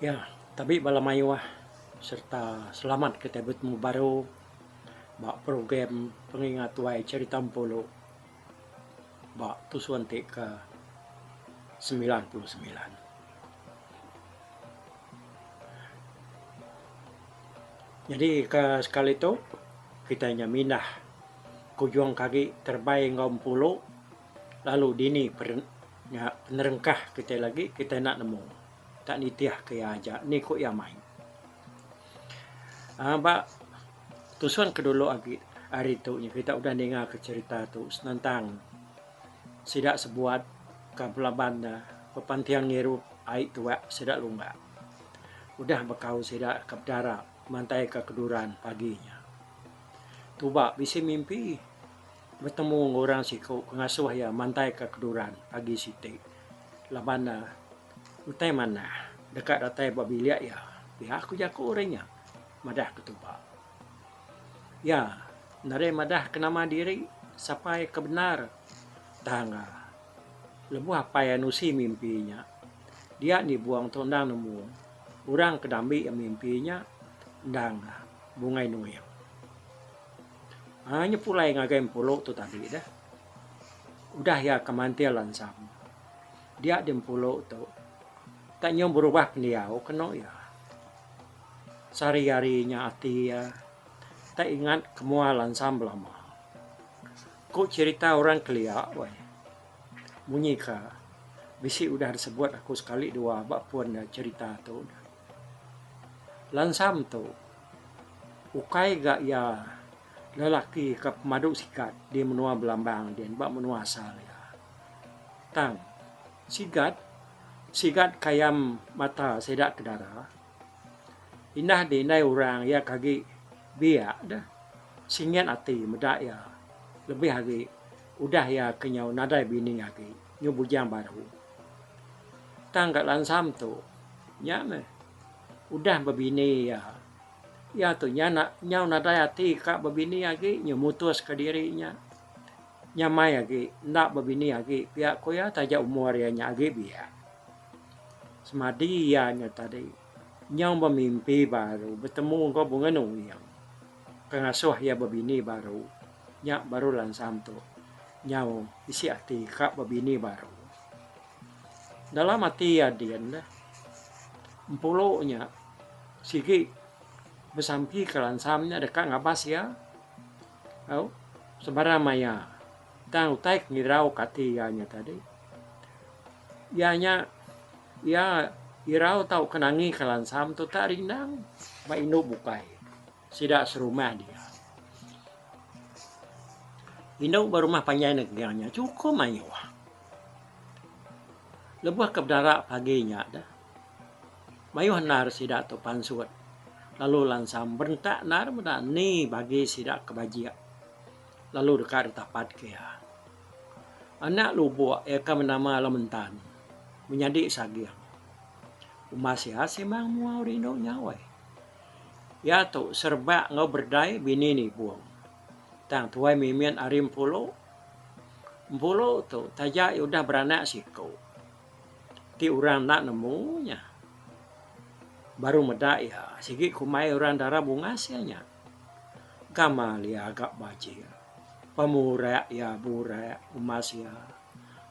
Iya, tabi bala mayuh sereta selamat ke tai betemu baru ba program pengingat tuai cherita empulu ba tusun ti ke semilan puluh semilan. Nyadi ke sekali tu kitai nya mindah kujung ke agi terebai enggau empulu lalu dini nya penerengkah kitai lagi kitai enda nemu enda nitih ke iya aja ni ku iya mai aaa ba tusung ke dulu agi hari tu kita udah ninga ke cherita tu senentang Sida sebuat ka pelaban da bepanting ngirup ai tuak sida lumba. Udah bekau sida ka bedara mantai ka keduran pagi nya. Tuba bisi mimpi betemu enggau orang siku ke ngasuh iya mantai ka keduran pagi siti laban ne utai manah deka datai ba bilik iya. Pia ku jaku orang nya, madah ke Tuba. Iya nadai madah ke nama diri sapai ke bendar tang lebuh apai nusi mimpi nya dia andi buang tu endang nemu orang ke dambi mimpi nya endang bungai nuing. Aaa nya pulai ngagai Empulu tu tadi deh udah iya ke mantil lansam dia di Empulu tu tak nyau berubah pendiau kenu iya. Sehari-hari nya ati iya tak ingat ke mua lansang belama. Ku cherita orang kelia weh. Munyi ka bisi udah disebut aku sekali dua ba pun da cherita tu. Lansang tu ukai ga iya lelaki ke pemadu sigat di menua Belambang din ba menua asal iya. Tang sigat sigat kayam mata sida ke dara. Indah ti indai orang iya ke agi biak deh singit ati meda iya lebih agi udah iya ke nyau nadai bini agi nyau bujang baru. Tang ka lansam tu nya meh udah bebini iya iya tu nya nak nyau nadai ati ka bebini agi nyau mutus ka diri nya nyamai agi enda bebini agi pia ko iya taja umur iya nya agi biak. Semadi iya nya tadi, nyau bemimpi baru betemu enggau Bungan Uyang ke ngasuh iya bebini baru. Nya baru Lansam tu nyau bisi ati ka bebini baru. Dalam ati iya din neh, Empulu nya sigi besampi ke Lansam nya deka ngabas iya au sebarang maya. Tang utai ke ngirauka ati iya nya tadi, iya nya iya irau tauka nangika lansam tu tak rindang ba indu bukai sida serumah dia. Indu ba rumah panjai negang nya chukup mayuh. Lebuh ke bedara pagi nya deh, mayuh endar sida tu pansut lalu lansam berentak endar meda ni bagi sida ke bajik. Lalu deka ditapatka iya. Anak lubuk iya ke benama Alam Entan menyadi saging. Umas iya simang mua rindu nyawai. Iya tu serebak enggau Berdai bini Nibong. Tang tuai mimit ari Empulu. Empulu tu taja iya udah beranak siku. Ti orang enda nemu nya baru meda iya sigi kumbai orang dara bungas iya nya. Gamal iya ga bajing. Pemurak iya burak umas iya.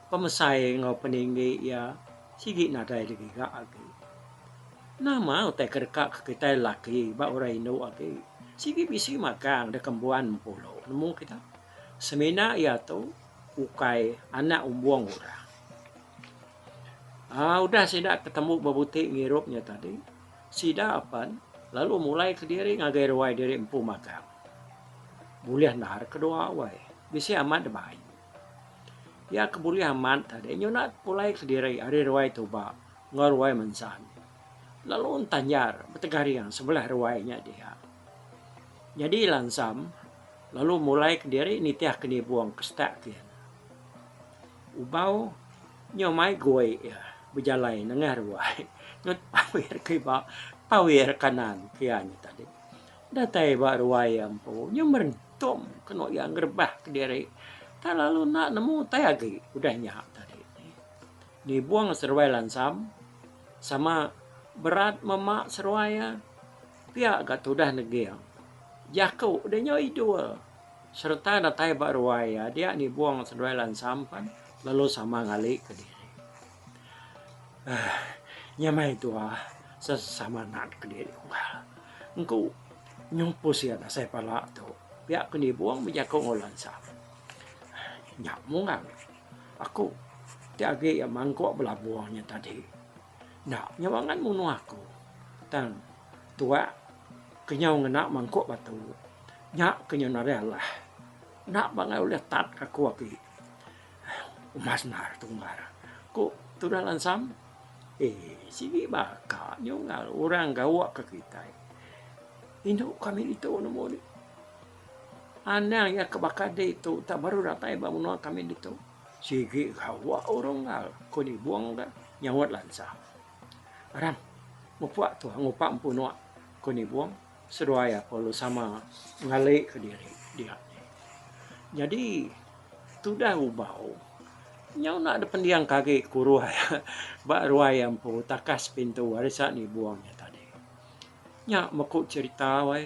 Pemesai enggau peninggi iya sigi nadai digiga agi. Nama utai ke deka ke kitai laki ba orang indu agi sigi bisi magang deka mbuan mempulu nemu kita. Semina iya tu ukai anak umbong orang. Aaa udah sida ketemu bebuti ngirup iya tadi. Sida apan lalu mulai kediri ngagai ruai diri empu magang. Bulih endar ke dua awai, bisi amat deba ayu. Iya ke bulih amat tadi nyuna pulai kediri ari ruai tuba enggau ruai mensan lalu entanjar betegaring sebelah ruai nya dia. Nyadi lansam lalu mulai kediri nitih ke nibung ke setak kian. Ubau nyau mai goi iya bejalai nengah ruai nyau tawir ke iba tawir kanan pia nya tadi. Datai ba ruai iya empu nyau merentum kenu iya ngerebah kediri tang lalu enda nemu tai agi udah nya tadi. Nibung seruai lansam sama berat mema seruai iya pia ga tudah neging. Jaku dia nyau idul. sereta datai ba ruai iya dia nibung seduai lansam pan lalu sama ngali ke diri. Uh, nyamai tua sesama nat ke diri unggal. Engku nyumpus iya dasai pala tu. Pia ke nibung bejaku ngau lansam. Nya mungang. Aku ti agi mangkuk belabung nya tadi. Enda nyau angat munuh aku. Tang tuak ke nyau ngena mangkuk batu nya ke nyau nadai alah. Enda pangai ulih tat aku agi. Uma sendar tu umbar, ku tudah lansam. Ee, sigi baka nyunggal orang gawa ke kitai. Indu kami ditu nemu nih. Anang iya ke baka ditu tak baru datai ba menua kami ditu. Sigi gawa urung ngal ko nibung da nyaut lansa. Aram, mupuk tu ngupa empu nuak ko nibung seduai aku lalu sama ngali ka diri dia. Nyadi tudah ubau nyau enda da pending ka agi kuruh iya ba ruai iya empu takas pintu ari sa nibung iya tadi. Nya meku cerita wai.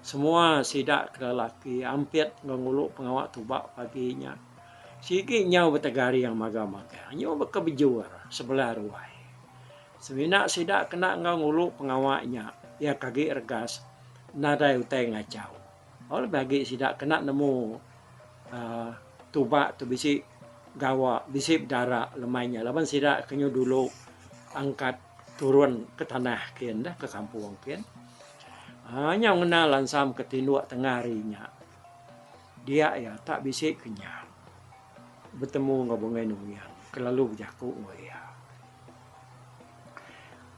Semua sida ke lelaki ampit enggau ngulu pengawa tuba pagi nya. Sigi nyau betegaring magang-magang nyu baka bejur sebelah ruai. Semina sida kena enggau ngulu pengawa nya iya ke agi regas nadai utai ngachau. Tau lebih agi sida kena nemu aaa tuba tu bisi gawa, bisi bedara lemai nya laban sida ke nyu dulu angkat. Turun ke tanah kin dah ke kampung kin. Haa nyau ngena lansam ke tinduk tengah hari nya. Dia iya tak bisi ke nya. Betemu enggau Bungei Nungian ke lalu bejaku enggau iya.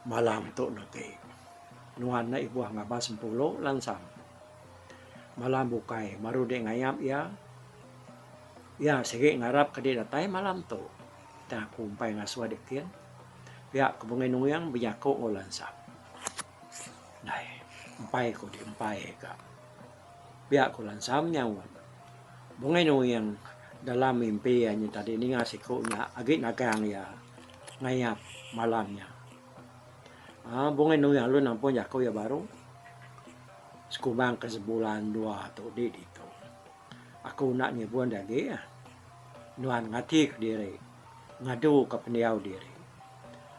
Malam tu enda ti. Nuan enda ibuh ngabas sempulu lansam. Malam bukai baru dia ngayap iya. Iya sigi ngarap ke dia datai malam tu. Tang aku umpai ngasuh adik tin. Pia ke Bungai Nuing bejaku enggau Lansap. Dai. Umpai ku ti umpai ka. Pia ku Lansam nyaut. Bungai Nuing dalam mimpi iya nyin tadi ninga siku nya agi nagang iya ngayap malam nya. Aaa Bungai Nuing alu nampung jaku iya baru. Sekumbang ke sebulan dua tu di ditu. Aku enda nyebunda agi. Nuan ngatika diri, ngaduka pendiau diri.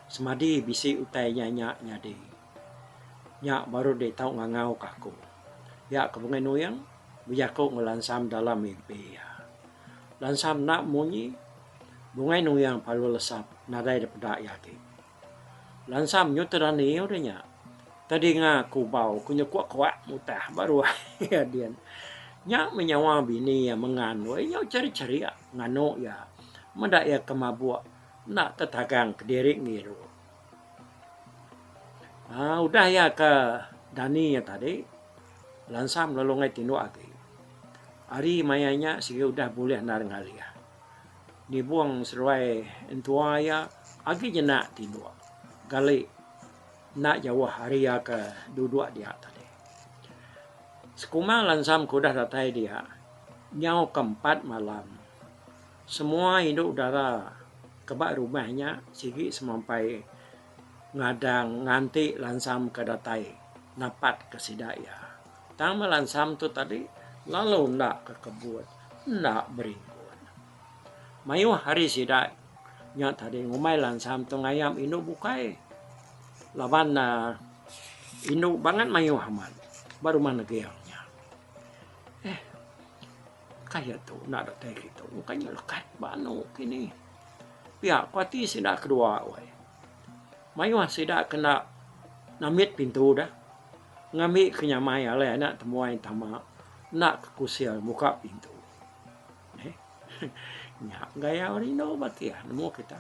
Semadi bisi utai nya nya nyadi, nya baru deh tau ngangauka aku. Iya ke Bengai Nuing bejaku enggau Lansam dalam mimpi iya. Lansam enda munyi, Bungai Nuing palu lesap nadai dipeda iya agi. Lansa menyut te rani udah nya. Te dinga ku bau ku nyekuak kuak mutah ba ruai iya din. Nya meh nyawa bini iya mengan weh nya uchar cheria nganu iya. Meda iya ke mabuk enda tetagang kediri ngiru. Aaa udah iya ke dani iya tadi lansa melu lungai tinduk agi. Ari maya nya sigi udah bulih endar ngalih. Nibung seruai entua iya agi nyenda tinduk gali enda jauh ari iya ke duduk dia tadi. Sekuma lansam ke udah datai dia nyau ke empat malam semua indu dara ke ba rumah nya sigi semampai ngadang nganti lansam ke datai napat ke sida iya. Tang melansam tu tadi lalu enda ke kebut, enda beringgun. Mayuh ari sida nya tadi ngumbai lansam tu ngayam indu bukai. Laban ne indu bangat mayuh amat ba rumah neging nya. Eh, kaya tu enda datai kitu. Bukai nya lekat ba anu ke ni. Pia ku ati sida kedua weh. Mayuh sida kena nambit pintu deh. Ngambi ke nyamai alai anak temuai tama enda ke kusil muka pintu. Neh. Nya gaya orang indu ba kia nemu kita.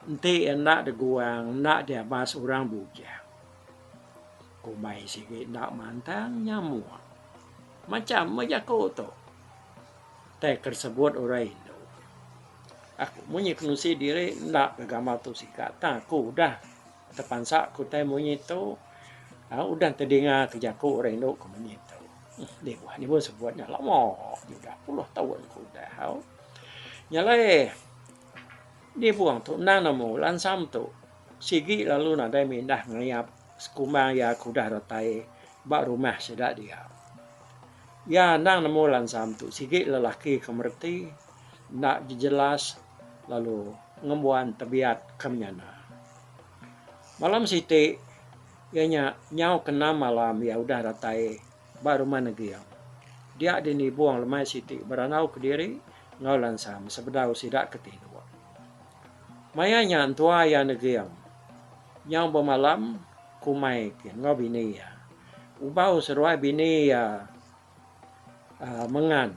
Enti enda deguang enda diabas orang bujang. Kumbai sigi enda mantang nyamuk. Macam meh jaku tu. Tai ke sebut orang indu. Aku munyi ke nusi diri enda ke gamal tu sikat tang aku udah. Tepansa ku utai munyi tu udah tedinga ke jaku orang indu ke munyi tu. Dibuh nya pun sebut nya lama agi udah puluh taun ke udah au. Nya alai dibuh tu endang nemu lansa metu sigi lalu nadai mindah ngayap sekumang iya ke udah datai ba rumah sida dia. Iya endang nemu lansa metu sigi lelaki ke mereti enda jejelas lalu ngembuan tebiat ke menyana. Malam siti iya nya nyau ke enam malam iya udah datai ba rumah Neging. Dia dini Bung lemai siti berandau kediri enggau Lansam sebedau sida ke tinuk. Maya nya entua iya Neging nyau bemalam kumai ke enggau bini iya. Ubau seruai bini iya Mengan.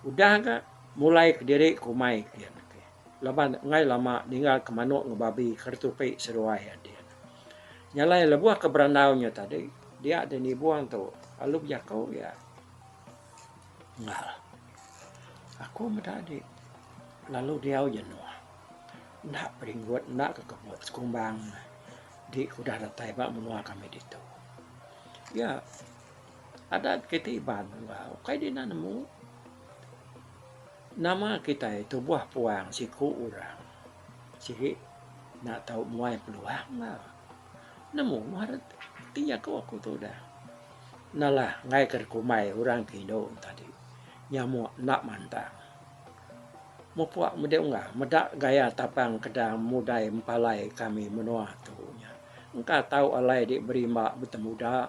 Udah ga mulai kediri ke umai ke dian ake. Laban enggai lama ninggal ke manok enggau babi ke retupi seduai ati ne. Nyalai lebuh ke berandau nya tadi dia deh nibong tu lalu bejaku iya enggau aku meda adi lalu diau jenuh enda peringut enda kekebut sekumbang ne adi ke udah datai ba menua kami ditu. Iya. Adat kitai Iban ukai dina nemu nama kitai tubuh puang siku orang sigi enda tau muai peluang la nemu mah rat ti jaku aku tu udah nalah enggai ka rak kumai orang ke indu tadi nyamuk enda mantang mupuk mudi ungga meda gaya tapang kedang mudai mepalai kami menua tu nya. Engka tau alai dik berimba betemuda.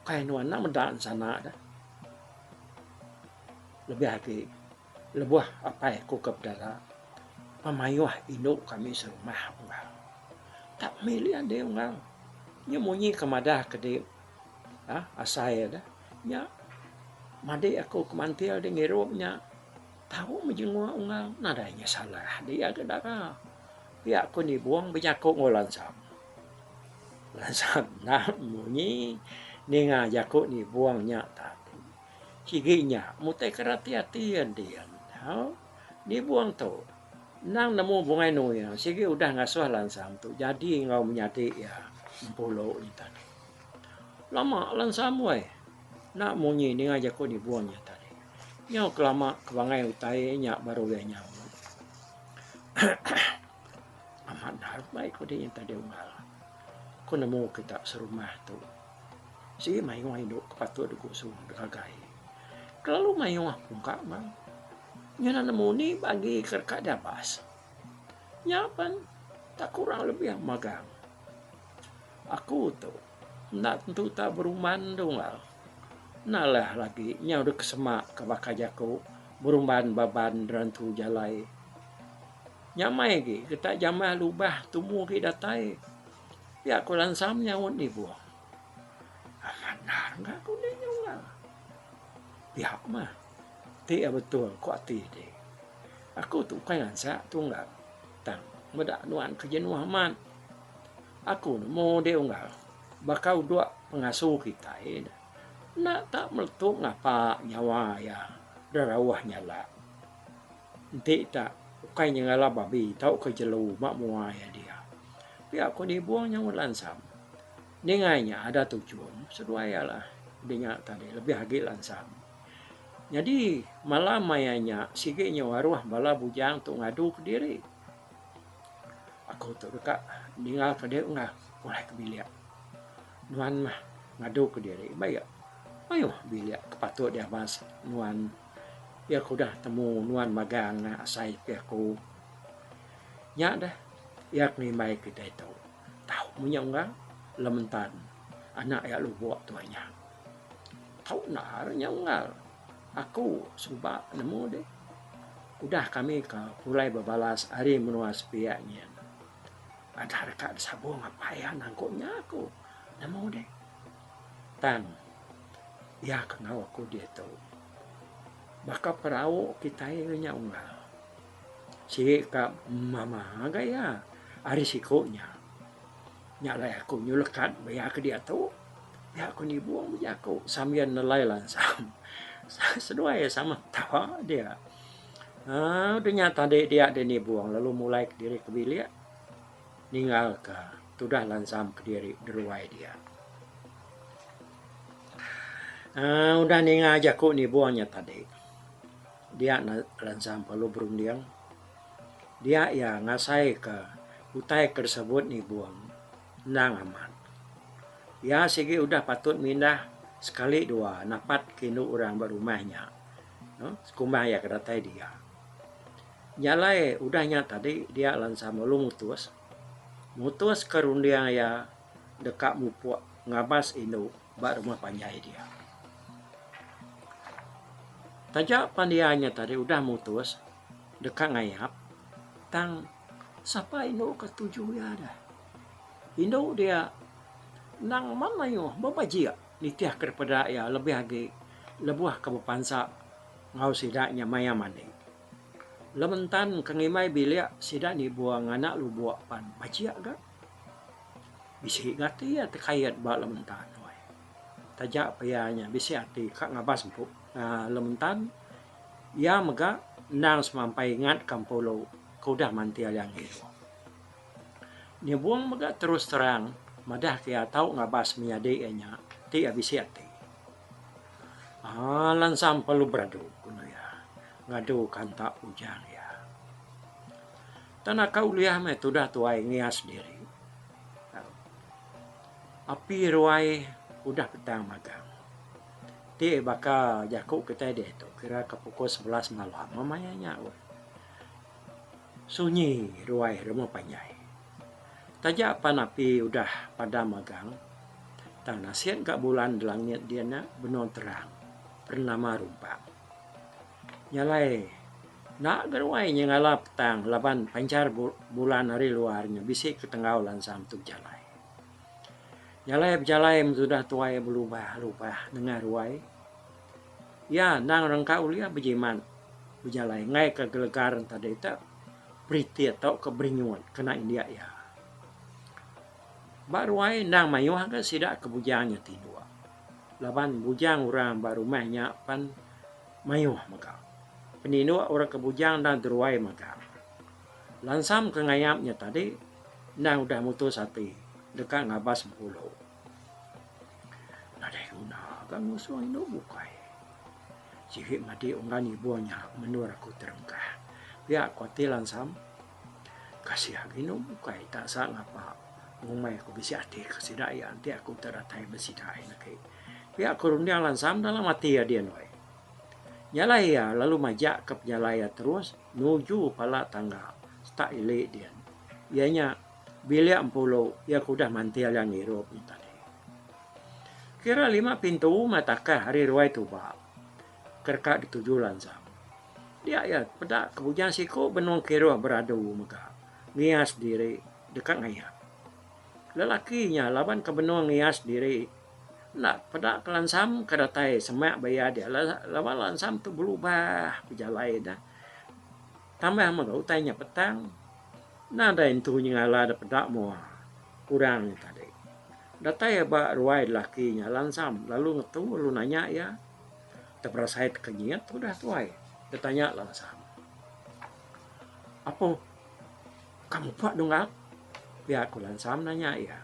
Ukai nuan enda meda ensana dah. Lebih agi lebuh apai aku ke bedara pemayuh indu kami serumah enggau. Enda milih ading enggau. Nya munyi ke madah ke dik asai dah. Nya madik aku ke mantil dik ngirup nya. Tau mejenguk Ungau nadai nya salah di iya ke dara. Pia ku Nibong bejaku enggau Lansam. Lansam enda munyi ninga jaku Nibong nya tadi. Sigi nya mutai ke rati ati iya ndin. Au, Nibong tu endang nemu Bungai Nuing sigi udah ngasuh Lansam tu jadi enggau menyadi iya Empulu nya tadi. Lama Lansam weh. Enda munyi ninga jaku dibun nya tadi. Nyau kelama ke bangai utai nya baru ulih nyau. Amat endar bai kudi nya tadi unggal. Ku nemu kita serumah tu sigi mayuh indu ke patut diku suh deka gai. Kelalu mayuh pun ka bang. Nyudah nemu ni bagi ke deka diabas. Nya pen tak kurang lebih magang aku tu. Enda tentu tau berumban tu enggau. Nalah lagi nyau dek sema ka baka jaku berumban ba ban rentu jalai. Nyamai agi kita jamah lubah tumu agi datai. Pia ku lansam nyaut ibuh. Amat ndar enggau aku nih nyau enggau. Pia ku mah. Ti iya betul ku ati ti. Aku tu ukai ngansak tu enggau. Tang meda nuan ke jenuh amat. Aku nemu deh unggal baka udok pengasu kitai enda tak meletup ngapa nyawa iya derauh nyalak. Enti tak ukai nyengala babi tauka jelu ba mua iya dia. Pia aku nibung nyau lansam. Ningai nya ada tujung seduai iya lah udah nya tadi lebih agi lansam. Nyadi malam maya nya sigi nyau aruh bala bujang tu ngadu kediri. Aku tu deka ninga ka dia enggau pulai ke bilik. Nuan mah ngadu ke diri ba iya. Mayuh bilik ke patut diabas nuan. Iya ke udah temu nuan magang ne asai ke aku. Nya deh iya ke ngimbai kitai tu tau munyi enggau lementan anak iya lubok tu inya. Tau naal inya enggau. Aku suba nemu deh. Udah kami ka pulai bebalas ari menua sepiak nyin. Adah deka disabung apai iya nangku nya aku nemu deh. Tang iya ke enggau aku diatu. Baka perau kitai ri nya unggal. Sigi ka mama ga iya ari siku nya. Nya alai aku nyulekat ba iya ke diatu. Nya ku Nibong bejaku sambil nelai lansang. Seduai iya sama ketawa dia. Haa udah nya tadi dia deh Nibong lalu mulai kediri ke bilik ninggalka tudah lansam kediri deruai dia. Haa udah ninga jaku Nibong nya tadi dia lansam lalu berunding dia iya ngasaika utai ke disebut Nibong. Endang amat. Iya sigi udah patut mindah sekali dua napat ke indu orang ba rumah nya. Sekumbang iya ke datai dia. Nya alai udah nya tadi dia Lansa Malu mutus mutuska runding iya deka mupuk ngabas indu ba rumah panjai dia. Taja pan iya nya tadi udah mutus deka ngayap tang. Sapa indu ke tuju iya deh. Indu dia endang mak mayuh bebejik nitihka daripada peda iya lebih agi lebuh ke bepansa enggau sida nya maya mandi. Lementan ke ngimbai bilik sida nibung nganak lubuk pan bejik ga. Bisi ga ati iya tekait ba Lementan weh. Taja pa iya nya bisi ati ka ngabas empu aaa Lementan iya mega endang semampai ingatka empu lu. Ke udah manti ari anggih. Nyebung mega terus terang madah ke iya tau ngabas menyadi iya nya ti iya bisi ati. Aaa lansa emperlu beradu, ku enda iya ngadu ke anta pujang iya. Enta naka ulih meh tudah tuai ngias diri. Api ruai udah petang magang. Ti baka jaku kitai diatu kira ke pukul sebelas malam meh maya nya. Sunyi ruai remu panjai. Taja pan api udah padam agang, tang nasin ka bulan di langit dia nya benung terang pernama rumpang. Nya alai enda ga ruai nyengala petang laban panchar bulan ari luar nya bisi ke tenggau lansang tu bejalai. Nya alai bejalai meh tudah tuai beluba luba nengah ruai. Iya endang rengka ulih bejimat bejalai enggai ke gelegar entadi te Pritik tauka Beringut kena indik iya. Ba ruai endang mayuh ga sida ke bujang iya tinduk laban bujang orang ba rumah iya pen mayuh mega. Peninduk orang ke bujang endang deruai mega. Lansam ke ngayap iya tadi endang udah mutus ati deka ngabas bengulu. Nadai guna ka ngusung indu bukai. Sigi madi unggan ibuh nya menua aku Terengkah. Pia ko ti Lansam. Kasih agi indu bukai ta sa ngapa ngumbai aku bisi ati ke sida iya enti aku ta datai ba sida ain agi. Pia ko runding Lansam dalam ati iya din weh. Nyalai iya lalu majak ka penyalai iya terus nuju pala tangga setak ili din. Iya nya. Bilik Empulu iya ke udah mantil iya ngirup nya tadi. Kira lima pintu meh takah ari ruai tuba ke deka dituju lansang. Dia iya peda ke bujang siku benung kiruh beradu mega ngias diri deka ngayak. Lelaki nya laban ke benung ngias diri enda peda ke lansam ke datai semak ba iya dia laban lansam tu belubah bejalai ne. Tambah mega utai nya petang, nadai entu nyengala da peda mua kurang nya tadi. Datai iya ba ruai lelaki nya lansam lalu ngetu lalu nanya iya, teberasai teka nyiat tu udah tuai? Iya tanya lansam. Apoh ka muka Dungap? Pia ku lansam nanya iya.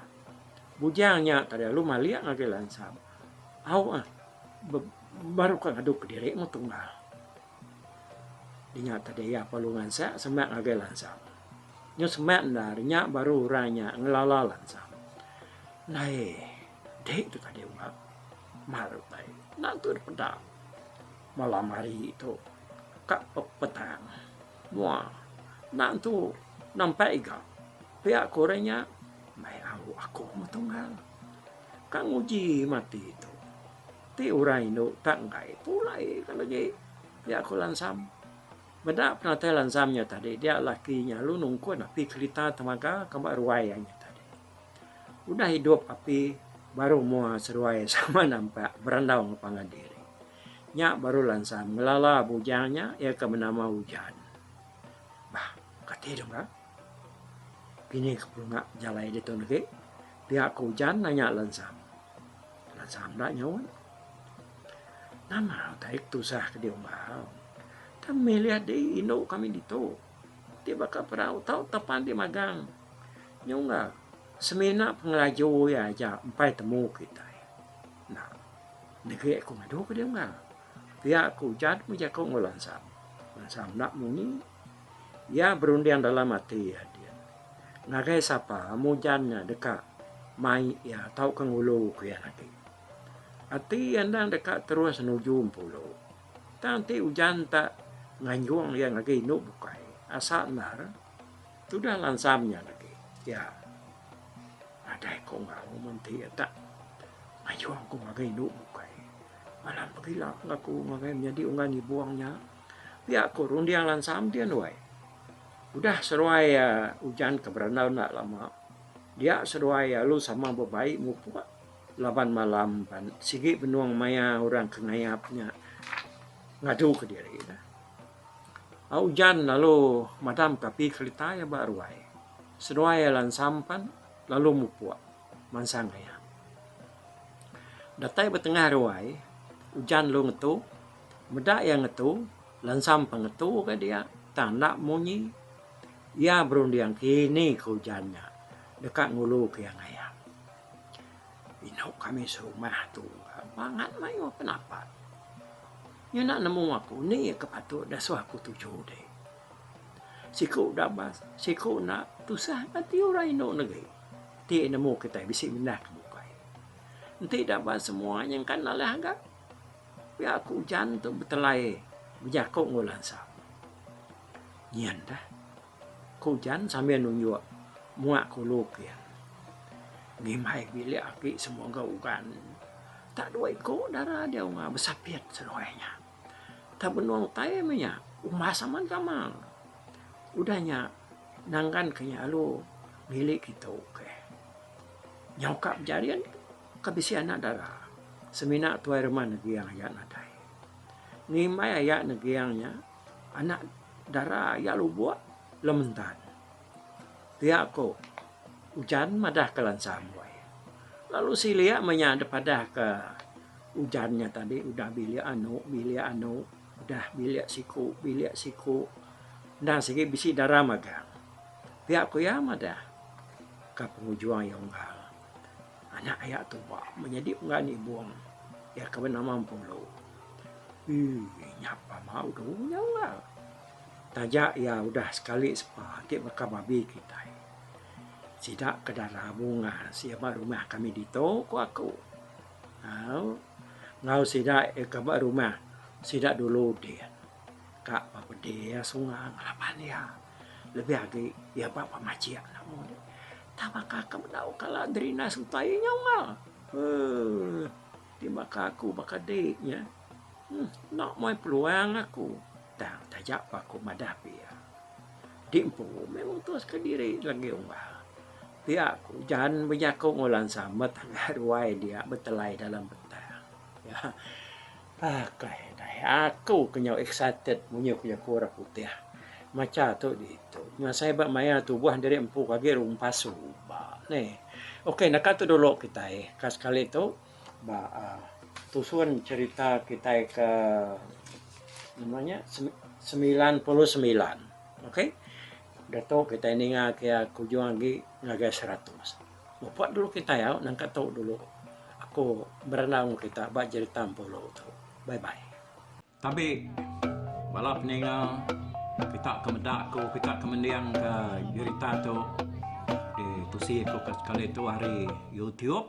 Bujang nya tadi lalu malik ngagai lansam, Au ah, baru ka ngadu kediri mu tunggal. Dinya tadi iya perlu ngansang semak ngagai lansang. Nyu semak enda dinya baru orang nya ngelala lansang. Nai. Dek tu tadi ubat. Mar utai. Nak tu dipeda. Malam hari tu. Kak petang. Mua. Nak tu nampak iga. Pia ko orang nya. Mai au aku metungal. Kak nguji mati tu. Ti orang indu tak enggai pulai ka legi pia ku Lansam. Meda penatai Lansam nya tadi dia laki nya lalu nungkun api kerita temaga ka ba ruai iya nya tadi. Udah idup api baru mua seruai sama nampak berandau enggau pangan diri. Nya baru Lansam ngelala bujang nya iya ke benama Ujan. Bah kati dong ga pini ke pulunga bejalai ditu negi pia ku Ujan nanya Lansam. Tuan Samba nyaup, Nama utai ke tusah ke diumbau? Tang milih di indu kami ditu. Ti baka perau tau tapan ti magang. Nyungga semina pengelaju iya aja empai temu kitai. Nah, negi aku ngadu ke diungga. Pia ku ujan ku jaku enggau Lansam. Lansam enda munyi. Iya berunding dalam ati iya din, ngagai sapa mujan nya deka mai iya tauka ngulu ku iya agi. Ati iya endang deka terus nuju Empulu. Tang ti ujan ta nganjung iya ngagai indu bukai asa endar tudah lansam nya agi. Iya nadai ko enggau mun ti iya ta nganjung ku ngagai indu bukai. Alah pegila ngaku ngagai menyadi unggan ngibung nya. Pia ku runding lansam ti anduai. Udah seduai iya ujan ke berendau enda lama dia seduai iya lalu sama bebai ngupuk laban malam pan sigi benung maya orang ke ngayap nya ngadu ke diri ne. Au ujan lalu madam ke api kerita iya ba ruai. Seduai iya lansam pan lalu mupuk mansang ngayap. Datai ba tengah ruai ujan lalu ngetu Meda iya ngetu, lensam pe ngetu ka dia, tang enda munyi. Iya berunding kini ke ujan nya deka ngulu ke iya ngayak. Inu kami serumah tu bangat mayuh ke napak. Ngena nemu aku ni iya ke patut disuh aku tuju deh. Siku da bas, siku enda tusah ka ti orang inu negeri ti nemu kitai bisi mindah ke bukai. Enti da bas semua nyengkan alih agak. Pia aku ujan tu betelai bejaku enggau lansa. Nyin dah. Ku ujan sambil nunjuk mua kulu pia. Ngimbai bilik aki semua enggau ugan. Tak dua iku dara dia unga besapit seduai nya. Tak benung tai meh nya umbas amat gamal. Udah nya nanggan ke nya lalu milik kitu. Nyau ka bejarin. Ka bisi anak dara. Semina tuai rumah Negeang iya nadai. Ngimbai aya Negeang nya, anak dara iya lubuk lem entan. Pia ku ujan madahka lansa amboi. Lalu silik meh nya dep adahka ujan nya tadi udah bilik anu bilik anu udah bilik siku bilik siku endang sigi bisi dara magang. Pia ku iya madah ka pengujung iya unggal. Anak aya tu ba menyadi unggan ibung iya ke benama Empulu. Ui nya pama udu nya unggal. Taja iya udah sekali sepa ti baka babi kitai. Sida ke dara bungan sia ba rumah kami ditu ku aku. Au enggau sida iya ke ba rumah sida dulu din ka ba pedis sungai ngelaban iya. Lebih agi iya ba pemachik enda mudip. Tang baka ke bedau kala Drina sempa iya nyau enggau. Huh. Ti baka aku baka dik nya. Hmm. Enda muai peluang aku. Tang taja pa aku madah pi iya. Dik empu meh mutuska diri legi unggal. Pia aku jan benyakung Olan Samet ngagai ruai dia betelai dalam petang. Akai akai. Aku ke nyau excited munyi aku jaku orang putih. Macha tu ditu. Ngasai ba maya tubuh diri empu ke agi rumpas suba ne. Okey naka tu dulu kitai ka sekali tu ba aaa tusun cerita kitai ke nama nya semilan puluh semilan. Okey. Ditu kitai ninga ke kujung agi ngagai seratus. Muput dulu kitai au nangka tu dulu aku berandau enggau kita ba jerita empu law tu. Bye bye. Tabi bala peninga kita ke meda aku kita ke mending ka jerita tu di tusi aku ka sekali tu ari YouTube.